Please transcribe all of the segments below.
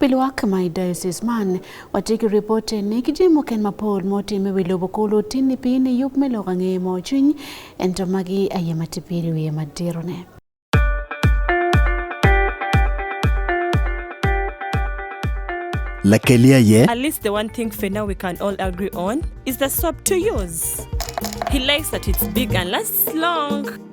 Pilwak my diocese man watiki report ni kijimo ken mapol motime wi lobo kolo tini pini yup me loka ng'e mo chuny ento magi aye matipiri wiye madirone. Lakelia ye. At least the one thing for now we can all agree on is the soap to use. He likes that it's big and lasts long.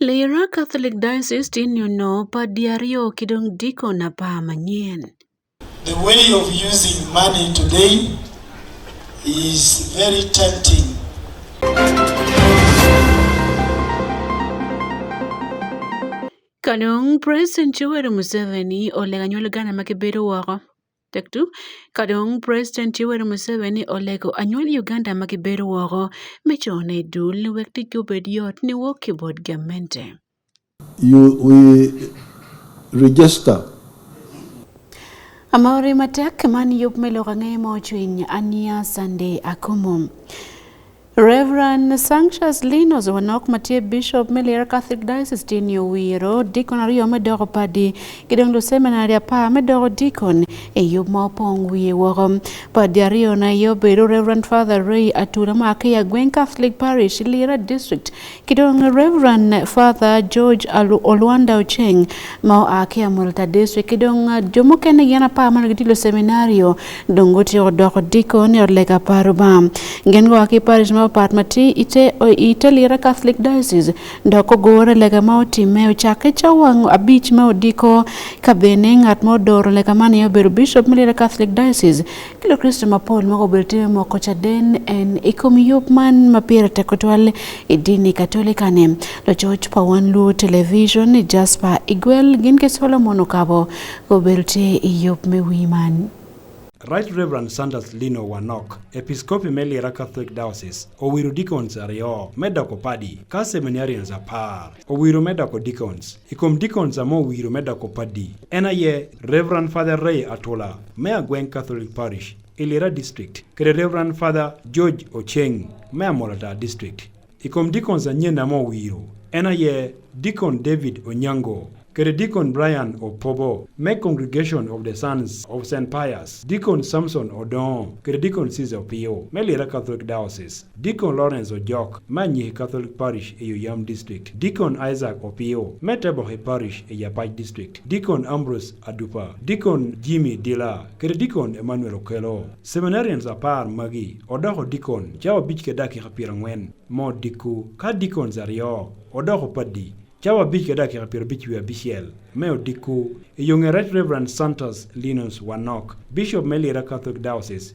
Lira Catholic Diocese tinyono pa di aryo ki dong diko na pa manyen. The way of using money today is very tempting. Kanong President Yoweri Museveni olega nyuol gana ma kibedo woko. Tektu, kadong President Yoweri Museveni olego anyual Uganda ma gibedo woko me cone i dul ni wek ticgi obed yot ni wok ki bot gamente. You, we register Amore matek man yub me lok ang'e mo cwiny ania Sunday Akumu. Reverend Sanctius Linos Wanok Matie Bishop Melier Catholic Diocese Tin Yowiro Deacon ariyo medoko padi Kidonglo Seminary apa medoko Deacon e yo ma opong wiye woko padi ariyo na yo bedo Reverend Father Ray Atura ma Akeya Gweng Catholic Parish Lira District Kidong Reverend Father George Alu Olwanda Ocheng ma oa Kiamul Tadeswe kidong jomokene gin apar mane gitilo seminario dong guti odoko diko ni odlega apar bam gin goa ki parish ma opat mati ite ite lira Catholic Diocese dok ogore lega ma otime ocakke cawang abich ma odiko ka bene ngat ma odoro lega man iye obedo Bishop me lira Catholic Diocese Kilo Kristo mapol ma obedo time moko cha den en ikom yup man ma pira teko twal e dini katolika ne lo church pa wan lu television Jasper Igwel gin ke Solomon Okabo obedo te yup me wi man. Right Reverend Sanders Lino Wanok, Episkopi me Lira Catholic Diocese, owiro deacons ariyo me doko padi ka seminarians apar. Owiro me doko Deacons. I kom Deacons amo owiro me doko Paddy. En aye Reverend Father Ray Atola, me Agweng Catholic Parish, Ilira District, kede Reverend Father George Ocheng, me Amolata District. I kom Deacons anyen amo owiro. En aye Deacon David Onyango, kede Deacon Brian Opobo, me Congregation of the Sons of St. Pius, Deacon Samson Odon, kede Deacon Caesar Opio, me Lira Catholic Diocese. Deacon Lawrence Ojok, ma Nyihi Catholic Parish e Yoyam District, Deacon Isaac Opio, me Tebohe Parish e Yapach District, Deacon Ambrose Adupa, Deacon Jimmy Dila, kata Deacon Emmanuel Okelo. Seminarians apar magi odoko Deacon cawa abich ka dakika piero ang'wen mo dikku, ka Deacons aryo odoko Paddi cawa abich ka dakika piero abich wiye abiciel me odikku. E yo ng'e Right Reverend Santos Linus Wanok, Bishop me Lira Catholic Diocese,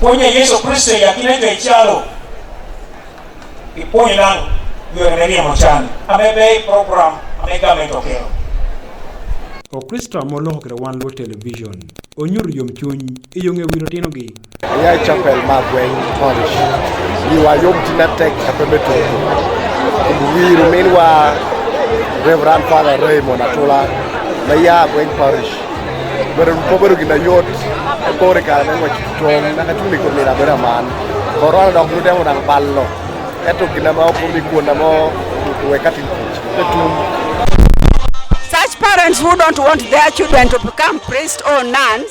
Puonjo Yesu Kristo e yakina jo e chalo. Ipuonjo nang' yore ne riemo chani. Amebe program ame government okelo. Okristo molokre wan luo television. Onyur yom chuny, iyong' e wiro tino gi. Ayae chapel ma gweng parish. Iwa yom tina tek kapembe tuku. Kumbwiro minwa Reverend Father Raymond Atula. Maya gweng parish. Wabedo gin ayot kore kare me ngwec tong naka cumi kod mira bedo aman koro ana dok nutemo dang ballo eto gina ma opo mi kuonda mo we katin kuch etum Such parents who don't want their children to become priests or nuns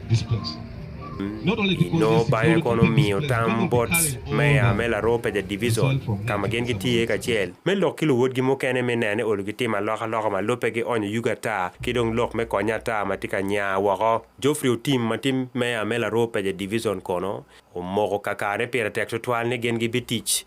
this place. no bang'e kono miyo tam bot meya me laroo peja divison ka ma gin gitiye kacel me lok ki luwotgi mukene me nene olu gitimo alokaloka ma lope gi onyo yugi ata ki dong lok me konye ata ma tye ka nya woko jofri otim ma tye meya me laroo peja divison kono omoko kakane pire tek tutwal ni gin gibitic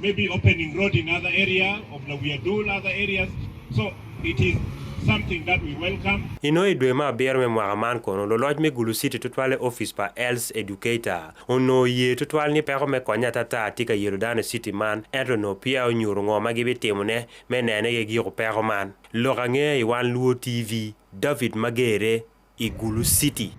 Maybe opening road in other area of the Wiadul, other areas. So it is something that we welcome. Ino e dwe ma abiro me mwaka man kono loloc me Gulu City tutwale office pa Els Educator ono ye tutwal ni peko me konya tata tika yelo dano city man ento no pia onyuru ngo ma gibitimo ne me nene ge giko peko man. Loka nge i wan Luo TV David Magere Igulu City.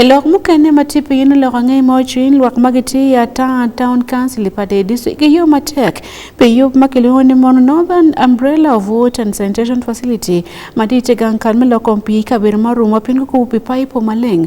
I lok mukene ma tye piny lok angey ma ocwiny lwak ma gitye i ata town council pa de district ki yo matek pi yub ma kilwongo ni mono northern umbrella of water and sanitation facility ma tye i tegang kal me loko pii i kabedo ma orumo piny kukubo pi paipo maleng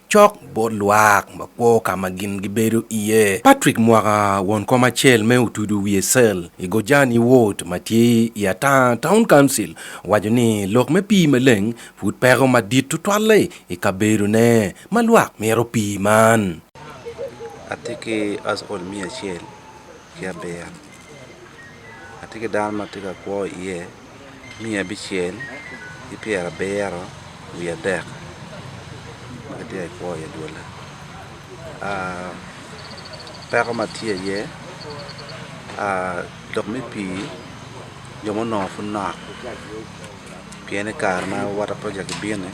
Cok bot lwak ma kwo ka ma gin gibedo iye. Patrick Mwaka, won kom acel me Otudu Wiye Cell i Gojani Ward ma tye i Atanga Town Council, owaco ni lok me pii maleng pud peko madit tutwalle i kabedone ma lwak mito pii man. Atye ki household miya acel ki abiro. Atye ki dano ma tye ka kwo iye miya abicel ki pyera abiro wiye adek ma gitye ka kwo iye dwolle peko ma tye iye lok me pii jo ma onongo pud nok pien i kare ma water project bino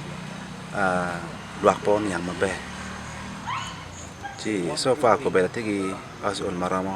lwak pe oniang maber ci so far kobedo atye ki household ma romo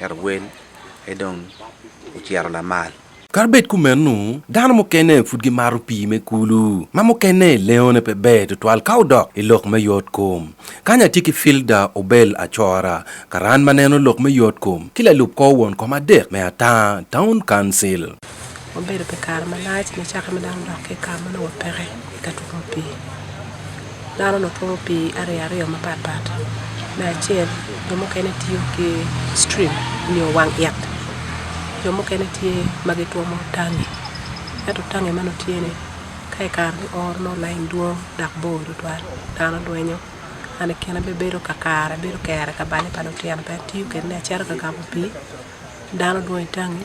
Ero wel aye dong ocito lamal. Kadi bed kumeno, dano mukene pud gimaro pii me kulu, ma mukene leone pe ber tutwal ka odok i lok me yotkom. Kany atye ki Filda Obel Acora, karan ma neno lok me yotkom, ki lalub kor won kom adek me Ataa Town Council. Wabedo pi kare malac nicakke ma dano odok ki i kare ma nongo peke i ka twomo pii dano onongo twomo pii ariyaariya mapat pat me acel jo mukene tiyo ki citrim nyo wang it jo mukene tye ma gitwomo tangi ento tangi ma nongo tye-ni ka i kare me oro nongo lain dwong dok bor tutwal dano dwenyo ento i kine bene bedo kakare bedo kere ka bale pa lutino bene tiyo kwede me acata ka gamo pii dano dwong i tangi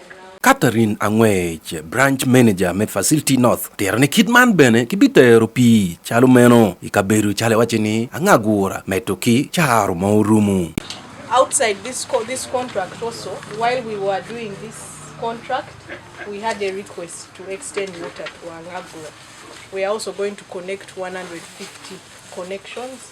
Catherine Angwech, Branch Manager me Facility North, tero ni kit man bene kibitero pi calo meno i kabedo cale wace ni angagura meto ki caro ma orumu. Outside this, co this contract also, while we were doing this contract, we had a request to extend water to Angagura. We are also going to connect 150 connections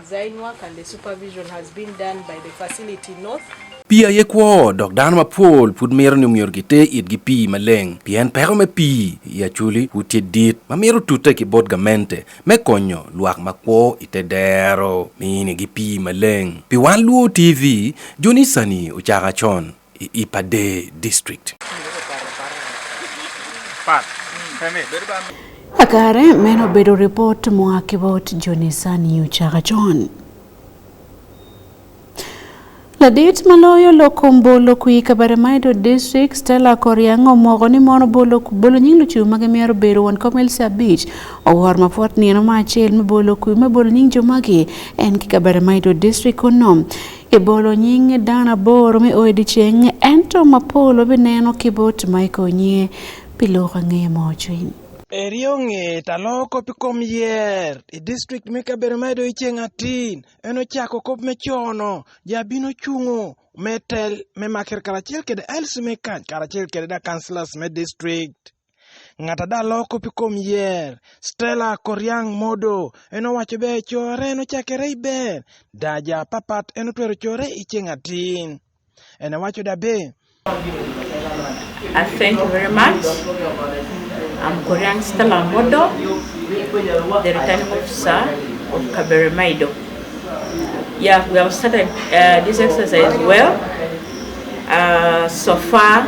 Pi aye kwo dok dano mapol pud mito ni omyero gite itgi pii maleng pien peko me pii i aculi pud tye dit ma mito tute ki bot gamente me konyo lwak ma kwo i te dero minigi pii maleng. Pi wan luo TV, Jonisani ocaka con. Ipade District. Akare meno bedo report moa Kibot Jonisa New Chakachon. Ladit maloyo loko mbolo kui Kabaremaido District Stella Koriang omoko ni mono bolo bolo nying lucu mage miaro bero wan komel sa beach owar mapot nieno ma achel me bolo kui me bolo nying jomagi en ki Kabaremaido District kono Ibolo nying dano aboro me odiechieng ento ma polo bineno ki bot ma ikonye pi loko angeye mo cwiny. Eri onge ta loko pi kom yer i district me kabedo ma ido iceng atin en ocako kop me cono ja bino cungo me tel me makir karacel kede LC me kac karacel kede da councillors me district. ng'ata da loko pi kom yer stella koriang modo en owaco be core en ochakere i ber da ja papat en otwero core i ceng atin en owaco da be I thank you very much. I'm Korean Stella Modo, the returning officer of Kabere Maido. Yeah, we have started uh, this exercise well. Uh, so far,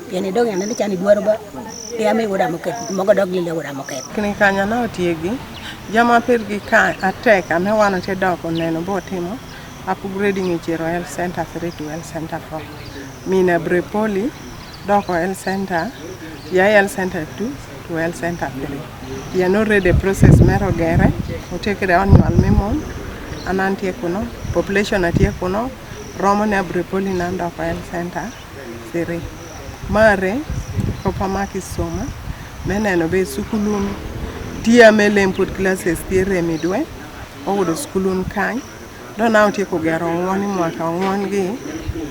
Yɛn idog yɛn ne can idwaro ba ya mi wuda moket mogo dog lile wuda moket. Kini kanya na otiegi jama pirgi ka atek ane wan ate dok oneno bo timo upgrading e Chero Health Center 3 to Health Center 4. Mina Brepoli doko Health Center ya Health Center 2 to Health Center 3. Yan already process mero gere otekre onyual mi mon anan tie kuno population atie kuno romo ne Brepoli nan doko Health Center Siri. Mare proper mark isoma meneno be sukulun tiya melem pod classes tie remi dwe oyudo sukulun kany dona otieko gero ng'wani mwaka ng'wan gi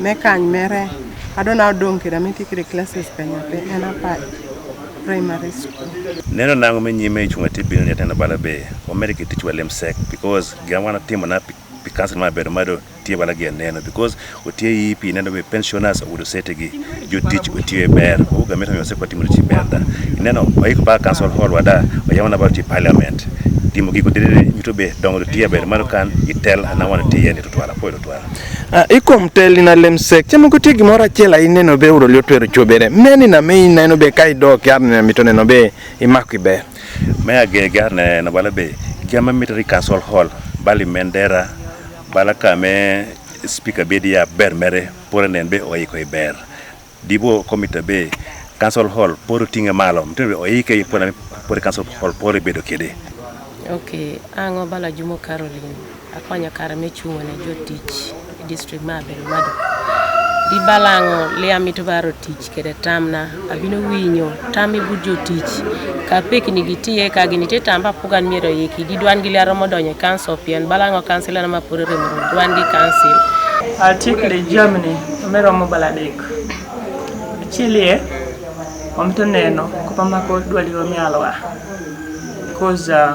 me kany mere adona odong kira mitikire classes kanya pe en apa primary school neno nango me nyime ichunga tibil ni atenda bala be omere ke tichwa lem sek because gina wana timo na pi council ma bedo mado tie bala gi neno because otie yi pi neno be pensioners ogudo sete gi jotich otie ber oga meta yose kwa timo chi ber da neno oik ba council hall wada oyama na ba ti parliament timo gigo dire nyito be dongo tie ber mano kan itel na wan tie ni to twala po twala Ah, ikom teli na lemsek chemo kuti gimora chela ineno be udo liotwero chobere meni na me ineno be kai dok yarne mitone no be imakwi ber Me agege aneno bala be jama mitri council hall bali mendera bala kame speaker be dia ber mere pore nen be oiko i ber dibo komite be council hall pore tinge malo mtende be oike i pore pore council hall pore bedo kede Okay, ang'o bala Jumo Caroline? Akonyo kare me chungo ne jotich e district ma Abelo Mado. Di balango lia mito baro tich kede tamna abino winyo tam i but jotich ka pek ni gitiye ka gini te tamba pugan miro yiki di dwan gi lia romo donyo council pien balango council na mapore remo dwan gi council. Atik le jamni me romo baladek. Achilie omito neno kupamako dwali romi alwa. Cause uh,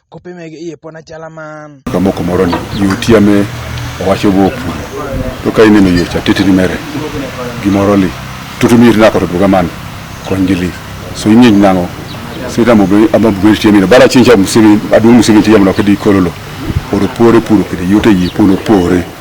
kope mege iye pon achala man kamoko moro ni yuti ame owacho go pu to ka ineno yo cha titi ni mere gimoro li tutu mi na ko to buga man kon gili so inyi nango sita mo be ama buga ti mi bara chin cha musimi adu musimi ti yamno kedi kololo oro pore puro kedi yote yi puno pore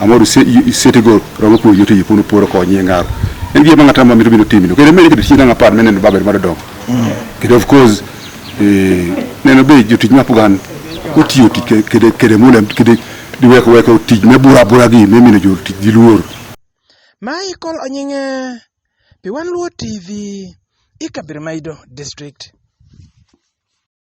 Amoru sete go romo puonjo tije puno poro konyi e ngaro. En gima ng'ata ma mito bino timino. Kendo mene kete china ng'apar mene no baber mar dongo. Kendo of course eh neno be jotich ma pugan otiyo tike kede kede mule kede diweko weko tich me bura bura gi me mino jotich gi luor. Michael Onyinge, Piwan Luo TV, Ikabir Maido District.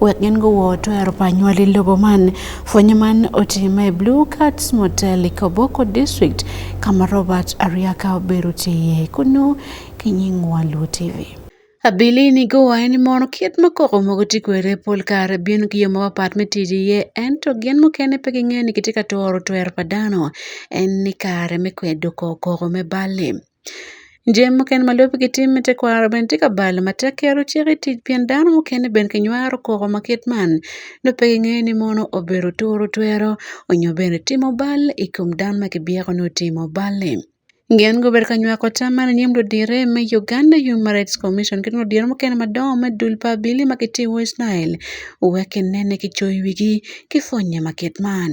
Wek gin go woto ero panywa lilogo man fwenye man otime Blue Cats Motel Ikoboko District kama Robert Ariaka obero tiye kuno kinyingwa Luo TV. Abili ni go en mono kiet makoko mogo tikwere pol kare bin gi yo ma wapat me tiye en to gin mukene pe ging'e ni kitika toro twer padano en ni kare me kwedo koko me bali. Nje mukene ma lwobgi gitimo me tekwaro bene tye ka balo matek ki yero cik i tic pien dano mukene bene kinywaro koko ma kit man nongo pe gingeyo ni mono obedo turo twero nyo bene timo bal i kom dano ma kibyeko ni otimo bal-li. Gin gubedo ka nywako tam man i nyim ludito me Uganda Human Rights Commission ki dong ludito mukene madongo me dul pa Abilii ma gitye i West Nile wek ginen ni kicoyo wigi ki pwonye ma kit man.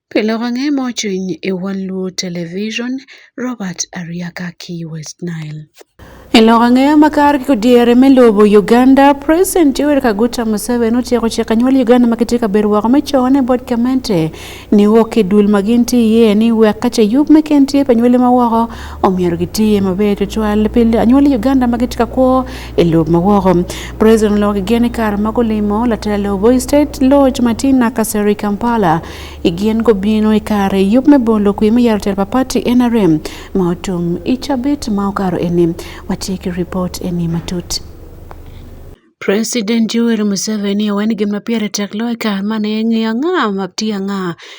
Pile wang'e mochiny e One Luo Television, Robert Ariaka ki West Nile. Iloko ang'eya makar kiko diere me lobo Uganda, President Yoweri Kaguta Museveni otieko chiko anyuola Uganda ma kitye ka bedo woko me con e bot gamente ni wok ki dul ma gin tye iye ni wek ka ce yub me ken tye pa anywali ma woko omyero gitiye maber tutwal pi anywali Uganda ma gitye ka kwo e lob mawoko. President Logi gin kar mago limo latelo Voi State Lodge Martina Kaseri Kampala igien go bino e kare yup me bolo kwi me yaro telpa party NRM ma otum ichabit ma okaro eni watieki report eni matut. President Yoweri Museveni owen gimna piere tek loy kar mane ng'iyo ng'a mapti ang'a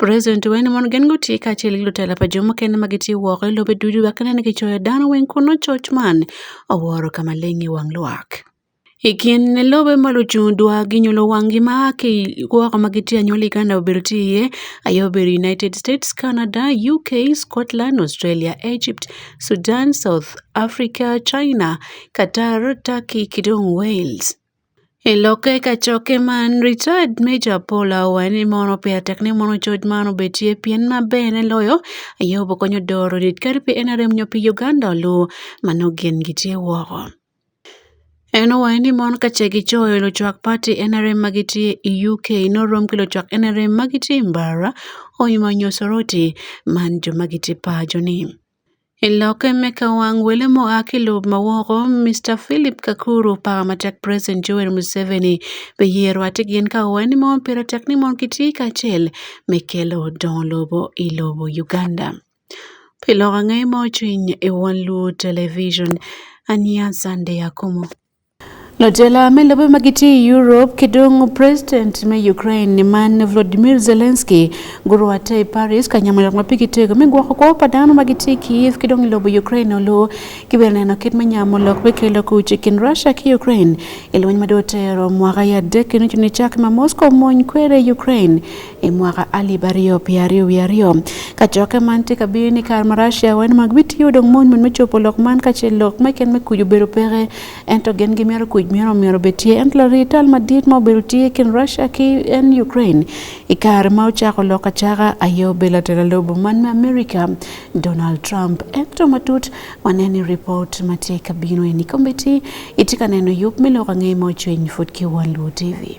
President wene mondo gen go tie kaachiel gi jotelo pa joma kende ma gitiyo woko e lobe duto wak ne gichoyo dano weng' kuno choch man owuoro kama ling' e wang' lwak. Ikin ne lobe malo chung' dwa ginyulo wang' gi ma ki woko ma gitiyo anyuola Uganda obiro tiye ayo obiro United States, Canada, UK, Scotland, Australia, Egypt, Sudan, South Africa, China, Qatar, Turkey kidong' Wales. E loke ka choke man retired Major Paul Awa ni mono pia tek ni mono choj mano betie pien ma bene loyo ayo bokonyo doro dit kar pi NRM nyo pi Uganda lu mano gen gitie woko. En owaye ni mon kache gi choyo lo chwak party NRM magitie e UK no rom kilo chwak NRM magitie mbara oimanyo soroti man jo magitie pajo ni. I lokke me kawang wele ma oa ki lobo ma woko Mister Philip Kakuru paka matek president Joel Museveni biyero atir gin ka owaco ni mono pire tek ni mono gitye kacel me kelo dongo lobo i lobo Uganda. Pi lok ange ma ocung i wang luu television aniya Sunday Akumu. Jotelo me lobe ma gitiyo e Europe kidong' president me Ukraine man Volodymyr Zelensky guru ate e Paris kanyamo yak ma pigi tego mi gwoko kwo pa dano ma gitye Kiev kidong' lobo Ukraine olu kibiro neno kit me nyamo lok me kelo kuc i kin Russia ki Ukraine i lweny ma dong otero mwaka ya adek kino cuni cak ma Moscow mony kwede Ukraine i mwaka alip aryo pi aryo wi aryo ka cokke man tye ka bino ni kare ma Russia wen ma gibitiyo dong mony mony me copo lok man ka ce lok me ken me kuc obedo peke ento gen gimyero kuc myero myero bed tye ento lari tal madit ma obedo tye kin Russia ki en Ukraine i kare ma ocako lok acaka aye obedo atera lobo man me America Donald Trump ento matut waneni report ma tye ka bino eni kombeti itye ka neno yub me lok angeye ma ocwiny fut ki One Luo TV.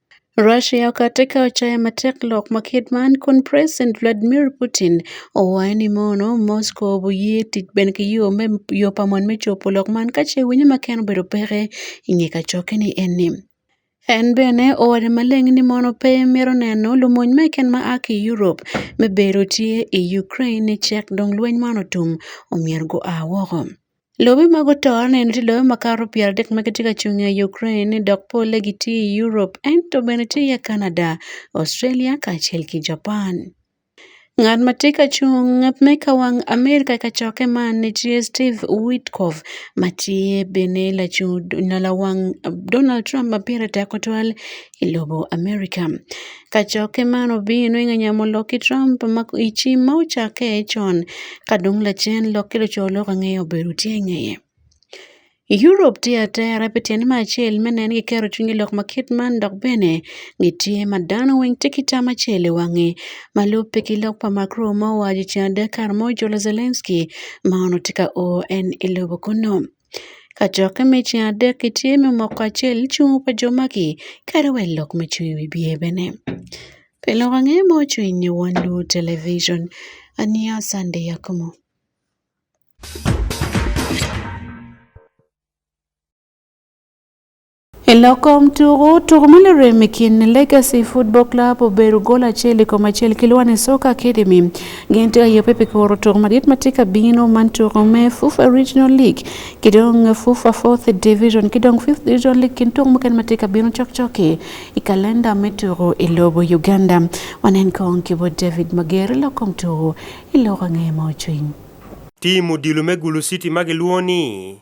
Russia okateka ochaya matek lok ma ker man kun president Vladmir Putin owaye ni mono Moscow oboye tic ben ki yo me yo pa mon me copo lok man kace winyo ma ken obedo peke inge kacokke ni en ni en bene owaco maleng ni mono pe mito neno lumony meken ma a ki Europe me bedo tye i Ukraine cek dong lweny man otum omyero gua woko. Lobe mago to aneno ni nitie lobe ma kalo piero adek ma gitye ka cung ei Ukraine dok polle gitye i Europe ento bene tye iye Canada, Australia kacel ki Japan. Ngat ma tye ka cung me ka wang Amerika i kacokke man ni tye Steve Witkoff ma tye bene lacung nyo lawang Donald Trump ma pire tek tutwal e lobo Amerika. Kachoke man obino ing'anya mo loki Trump ma ichi ma ochake chon kadung lachen loki locho lok ang'eyo beru tie ng'eye. Europe tye atera pi tyen me acel me nen ki kero cwiny lok ma kit man dok bene gitye ma dano weng tye ki tam acel i wange ma lubbe ki lok pa Macro ma owaco ceng adek kare mo jolo Zelensky ma ono tye ka o en i lobo kunu. Ka cok me ceng adek itye me moko acel icungo pa jo magi kadi wa ilok ma cung i wi biye bene pi lok ange ma ocung i nge won lobo television aniya Sunday Akumu. E lokom tugo tugo malero e kind Legacy Football Club obedo gol achiel i kom achiel ki Lwani Soka Academy gin tye aye pepe koro tugo madit ma tye ka bino man tugo me FUFA Regional League ki dong FUFA Fourth Division ki dong Fifth Division League kin tugo mukene ma tye ka bino cokcoki i kalenda me tugo i lobo Uganda wanen kong ki bo David Mager i lokom tugo i loko angeye ma ocwiny. Tim odilo me Gulu City ma gilwongo ni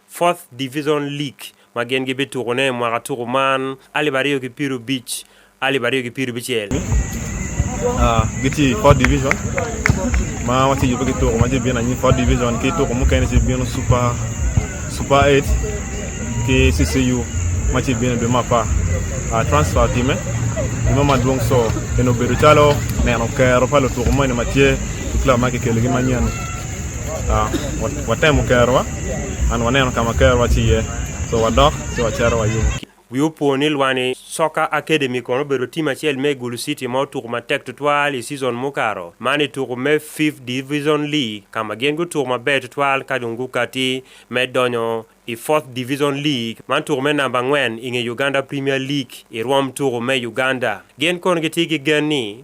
Fourth Division League ma gin gibituko ne mwaka tuko man alip aryo ki piero bic alip aryo ki piero bicel. Ah, giti Fourth Division ma wati yubo ki tuko ma je bina ni Fourth Division ki tuko mu kene si bino Super Super 8 ki CCU ma ci bino be ma pa ah, transfer time ima ma dwong so en obedo calo neno kero pa lutuko mo ni ma tye club ma kikelo gi manyen ah, watemo kerowa an waneno ka ma ker waciye so wadok ci wacero wayub wi opwo ni lwani soka academy kono obedo tim acel me gulu city ma otuku matek tutwal i season mukaro man i tuku me fifth division league ka ma gin gutuku maber tutwal ka dong gukati me donyo i fourth division league man tuku me namba angwen i nge uganda premier league i rwom tuku me uganda gin kono gitye ki gen ni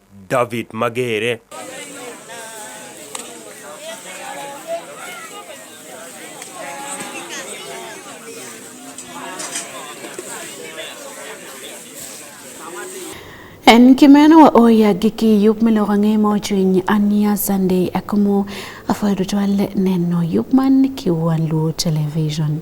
David Magere. En kimeno wa oya giki yup miloka nge mo chwiny ania Sunday akumu afoyo dutwale neno yup man kiwa luo television.